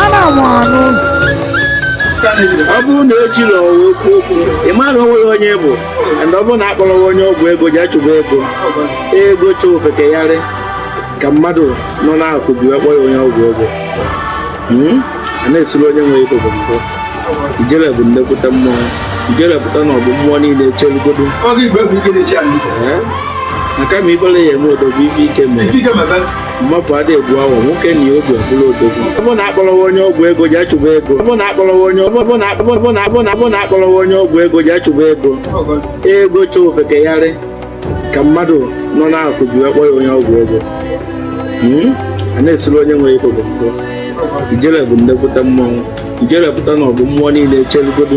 ana m anụ nsị ọ bụrụ na ejirọ wa ekwu okwu ị ma na onweghị onye ị bụ and ọ bụrụ na akpọrọghị onye ọgwụ ego ji achụba ego ego chọ ofeke yarị ka mmadụ nọ n'akụ ji wee kpọ ya onye ọgwụ ego Hmm? a na-esiri onye nwe ego bụ mbụ ijele bụ nnekwute mmụọ ijele pụta n'ọgbọ mmụọ niile echelugodo maka ma ibere ya eme odogwu ife ike mere Ife ike mebe. mmapụ ada egbu ọnwụ nwoke na ogbe bụrụ odogwu ọbụ na akpọrọwa onye ọgwụ ego ji achụba ego ọbụ na akpọrọwa onye ọgwụ ego ji achụba ego ego chọọ ofeke yarị ka mmadụ nọ n'akụ ji wee kpọ ya onye ọgwụ ego hmm? a na-esiri onye nwe ego bụ mbụ ijele bụ nnekwute mmọnwụ ijele pụta n'ọgbọ mmụọ niile echelugodo